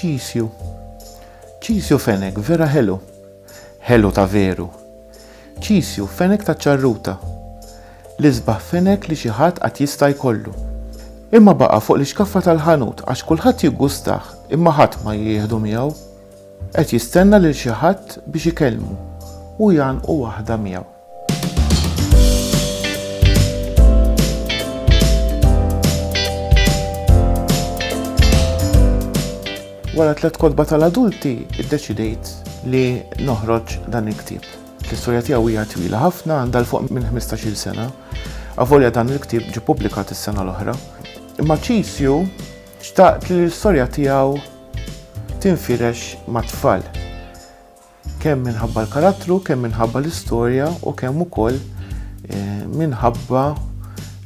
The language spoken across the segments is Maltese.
Ċisju. Ċisju fenek vera ħelu. Ħelu ta' veru. Ċisju fenek ta' ċarruta. L-isbaħ fenek li xi ħadd qatt jista' jkollu. Imma baqa' fuq l-ixkaffa tal-ħanut għax kulħadd jiggustah imma ħadd ma jieħdu miegħu. Qed jistenna lil xi ħadd biex ikellmu u jgħannqu waħda miegħu. Wara tliet kotba tal-adulti, iddeċidejt li noħroġ dan il-ktieb. L-istorja tiegħu hija twila ħafna għandha l-fuq minn 15-il sena. Avolja dan il-ktieb ġi publikat is-sena l-oħra. Imma Ċisju xtaqt li l-istorja tiegħu tinfirex mat-tfal. Kemm minħabba l-karattru, kemm minħabba l-istorja u kemm ukoll eh, minħabba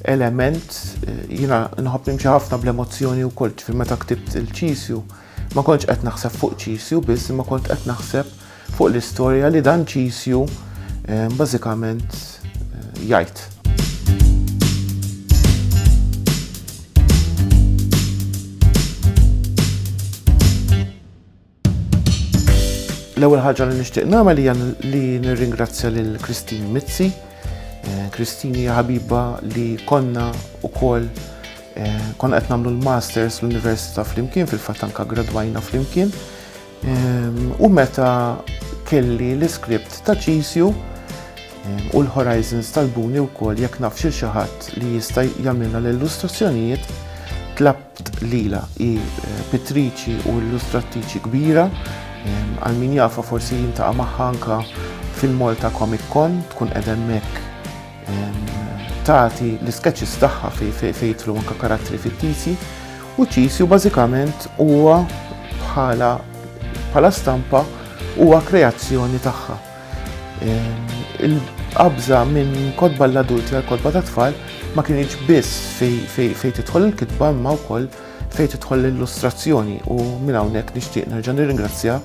element eh, jina nħobb nimxi ħafna bl-emozzjoni u koll ġifir meta ktibt il-ċisju ma kontx qed naħseb fuq ċisju biss ma kont qed naħseb fuq l-istorja li dan ċisju eh, bażikament eh, jgħid. L-ewwel ħaġa li nixtieq nagħmel hija li nirringrazzja lil Christine Mizzi. Eh, Christine hija ħabiba li konna wkoll eh, konna qed nagħmlu l-masters l-Università flimkien fil-fatt anka gradwajna flimkien. Ehm, u meta kelli l-iskript ta' ċisju ehm, u l-Horizons tal-Buni wkoll jekk naf xi ħadd li jista' jagħmilna l-illustrazzjonijiet tlab Lila hi pittriċi u illustrattiċi kbira, għal min jafha forsi jintaqa' magħha anke fil-Malta Comic Con, tkun qed hemmhekk tagħti l-isketches tagħha fejn jidħlu anke karattri fittizji u Ċisju bażikament huwa bħala stampa huwa kreazzjoni tagħha. Il-qabża minn kotba l-adulti għal kotba ta' tfal ma kienx biss fejn tidħol il-kitba imma wkoll fejn tidħol l-illustrazzjoni u minn hawnhekk nixtieq nerġa' nirringrazzja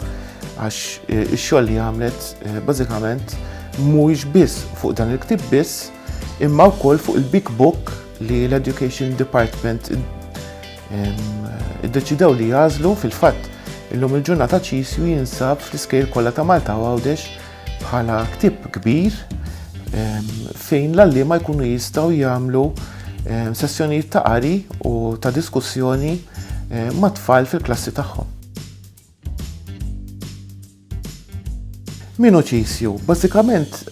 għax eh, ix-xogħol li għamlet eh, bażikament mhuwiex biss fuq dan il-ktib biss imma wkoll fuq il-Big Book li l-Education Department Iddeċidew li jażlu fil-fatt illum il-ġurnata ċisju jinsab fl-iskejl kollha ta' Malta u għawdex bħala ktib kbir fejn l-allima jkunu jistgħu jagħmlu sessjonijiet ta' qari u ta' diskussjoni mat-tfal fil-klassi tagħhom. Min hu Ċisju? Bażikament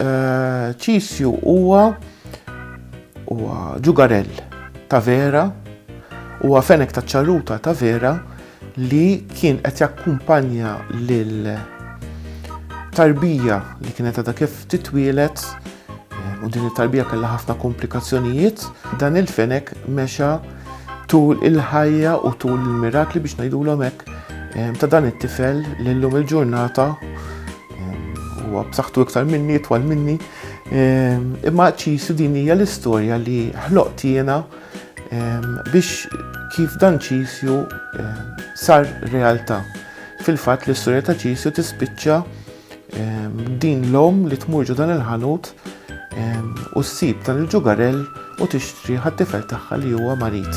Ċisju huwa huwa ġugarell ta' vera, huwa fenek ta' ċarruta ta' vera li kien qed jakkumpanja lil tarbija li kienet għadha kif titwieled U din it-tarbija kellha ħafna komplikazzjonijiet. Dan il-fenek mexa tul il-ħajja u tul il-mirakli biex ngħidulhom hekk eh, ta' dan it-tifel li llum il-ġurnata eh, huwa b'saħħtu iktar minni, twal minni. Eh, imma ċisu din hija l-istorja li ħloqt jiena biex kif dan ċisju sar realtà. Fil-fatt l-istorja ta' ċisju tispiċċa Din l-om li tmur ġo dan il-ħanut u ssib dan il-ġugarell u tixtri ħat-tifel tagħha li huwa marid.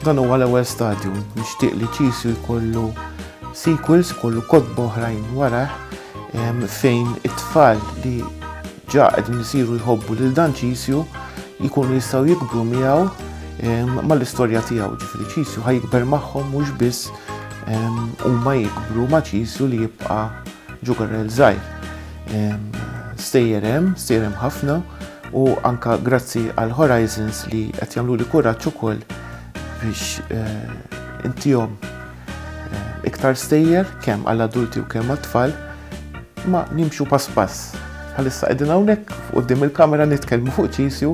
Dan huwa l-ewwel stadju, nixtieq li ċisu jkollu sequels, kollu kotba oħrajn warah fejn it-tfal li Ġa qegħdin isiru jħobbu lil dan Ċisju jkunu jistgħu jikbru miegħu ehm, mal-istorja tiegħu, ġifieri Ċisju ħajkber magħhom mhux biss ehm, huma jikbru ma' Ċisju li jibqa' ġugarel żgħir. Ehm, stejjer hemm, stejjer hemm ħafna u anka grazzi għal Horizons li qed jagħmlu li kuraġġ ukoll biex eh, intihom eh, iktar stejjer kemm għall-adulti u kemm għat-tfal Imma nimxu pass pass. Bħalissa qegħdin hawnhekk quddiem il-kamera nitkellmu fuq ċisju,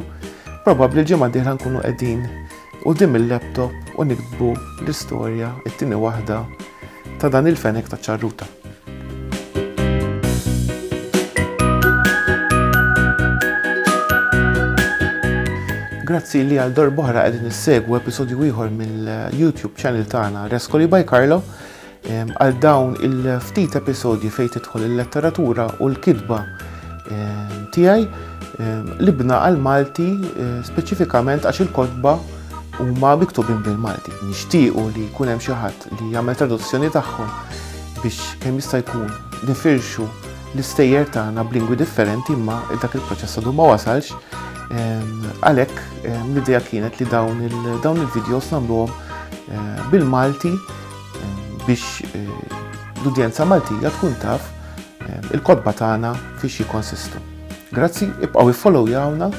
probabbli l-ġimgħa d-dieħla nkunu qegħdin quddiem il-laptop u niktbu l-istorja it-tieni waħda ta' dan il-fenek ta' ċarruta. Grazzi li għal darbohra għedin nissegwu episodju ieħor mill-YouTube channel tagħna Rescoli by Carlo. Għal dawn il-ftit episodji fejn tidħol il-letteratura u l-kitba tiegħi libna għal Malti eh, speċifikament għax il-kotba huma miktubin bil-Malti. Nixtiequ li jkun hemm xi ħadd li jagħmel traduzzjoni tagħhom biex kemm jista' jkun nifirxu l-istejjer tagħna b'lingwi differenti imma dak il-proċess għadu ma wasalx. Għalhekk l-idea kienet li dawn il-videos nagħmluhom eh, bil-Malti biex l-udjenza Maltija tkun taf il-kodba tagħna fiex jikonsistu. Grazzi, ibqgħu iffollowjawna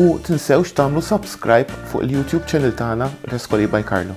u tinsewx tagħmlu subscribe fuq il-YouTube channel tagħna Reskoli by Carlo.